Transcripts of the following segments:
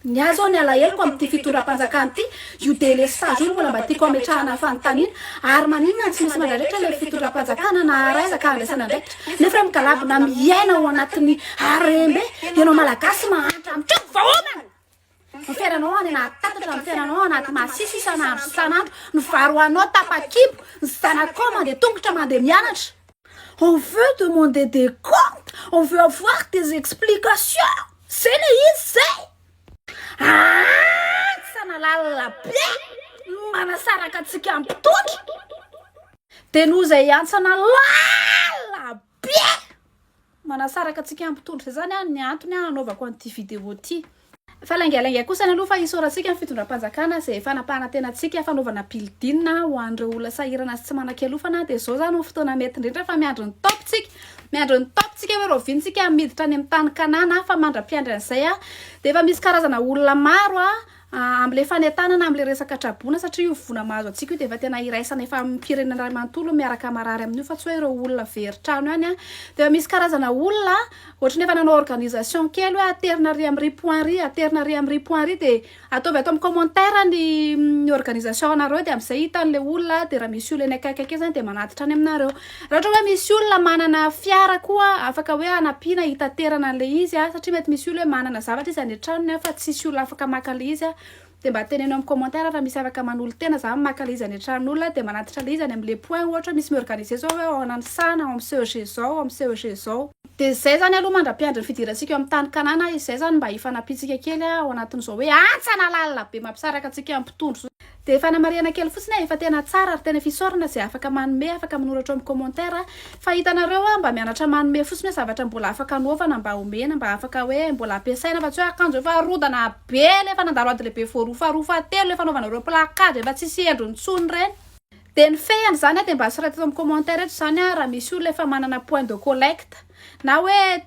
Ny ahy izao ny alaheloko amin'ity fitondram-panjakana ity, io délestage io no mbola mba tiako hametrahana fanontaniana, ary maninona no tsy misy mandradraitra ilay fitondram-panjakana na haraiza ka handraisana andraikitra? Nefa hoe migalabona miaina ao anatin'ny harem-be, ianao Malagasy mahantra mitranga vahaolana! Ny fiainanao any anaty tatatra, ny fiainanao anaty masisy isan'andro sy isan'andro, ny varoanao tapa-kibo, ny zanakao mandeha tongotra mandeha mianatra. On veut demander des comptes, on veut avoir des explications! Zena izy zay! Aah! Tsy analalina be no manasaraka antsika ampitotra! Dia noho izay antsana lala be manasaraka antsika ampitotra izany ah ny antony ah anaovako an'ity vidéo ity. Fa laingalainga kosa ny aloha fa isaorantsika ny fitondram-panjakana izay fanapahana tena antsika fanaovana building ho an'ireo olona sahirana sy tsy manan-kialofana dia izao izany ho fotoana mety indrindra fa miandry ny top-tsika Miandry ny Tompontsika hoe rahoviantsika hamiditra any amin'ny tany Kanana fa mandra-piandry an'izay dia efa misy karazana olona maro amin'ilay fanentanana amin'ilay resaka traboina satria io voina mahazo antsika io dia efa tena iraisana efa amin'ny mpirenena iray manontolo miaraka marary amin'io fa tsy hoe ireo olona very trano ihany dia efa misy karazana olona ohatry ny efa nanao organisation kely hoe aterina ary amin'ry point ry aterina ary amin'ry point ry dia Ataovy ato amin'ny commentaire ny ny organisation anareo dia amin'izay hita an'ilay olona dia raha misy olona eny akaiky akaiky zany dia manatitra any aminareo. Raha ohatra hoe misy olona manana fiara koa afaka hoe hanampiana hitaterana an'ilay izy a, satria mety misy olona hoe manana zavatra izy any an-tranony a fa tsisy olona afaka maka an'ilay izy a, dia mba teneno amin'ny commentaire raha misy afaka manolo-tena zany maka ilay izy any an-tranon'olona dia manatitra ilay izy any amin'ny le point ohatra hoe misy mi-organiser zao hoe ao Nanisana, ao amin'ny CEG zao, ao amin'ny CEG zao. Dia izay izany aloha mandra-piandry ny fidirantsika eo amin'ny tany Kanana, izay izany mba hifanampiantsika kely ao anatin'izao hoe hantsana lalina be mampisaraka antsika amin'ny mpitondra izao. Dia fanamarihana kely fotsiny aho, efa tena tsara ary tena fisaorana izay afaka manome, afaka manoratra eo amin'ny commentaire, fa hitanareo aho mba mianatra manome fotsiny hoe zavatra mbola afaka anaovana mba omena, mba afaka hoe mbola ampiasaina fa tsy hoe akanjo efa rodana be, ilay efa nandalo ady lehibe voaroa faharoa fahatelo, ilay fanaovanareo placard efa tsisy endriny intsony ireny. Dia ny fehiny izany dia mba soraty eto amin'ny commentaire eto izany an, raha misy olona efa manana point de collecte na hoe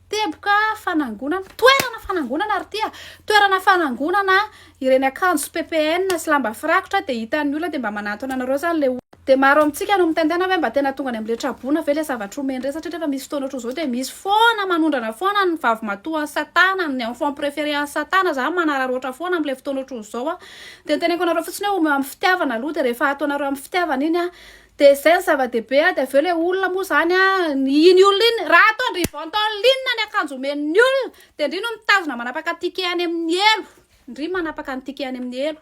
teboka fanangonana, toerana fanangonana ry tia, toerana fanangonana ireny akanjo ppn sy lamba firakotra dia hitan'ny olona dia mba manantona anareo izany ilay olona. Dia maro amintsika no mitaintaina hoe mba tena tonga any amin'ilay tra-boina ve ilay zavatra omeny ireny satria rehefa misy fotoana ohatr'izao dia misy foana manondrana foana ny vavimatoan'i satana, ny enfant préféré an'i satana, izaho manararaotra foana amin'ilay fotoana ohatr'izao an, Dia ny teneniko anareo fotsiny hoe omeo amin'ny fitiavana aloha dia rehefa ataonareo amin'ny fitiavana iny an, dia izay no zava-dehibe an, dia avy eo ilay olona moa izany an, iny olona iny, raha ataon-dry vantao linina ny akanjo omen'ny olona, dia ndry no mitazona manapaka ticket any amin'ny elo, ndry manapaka ny ticket any amin'ny elo.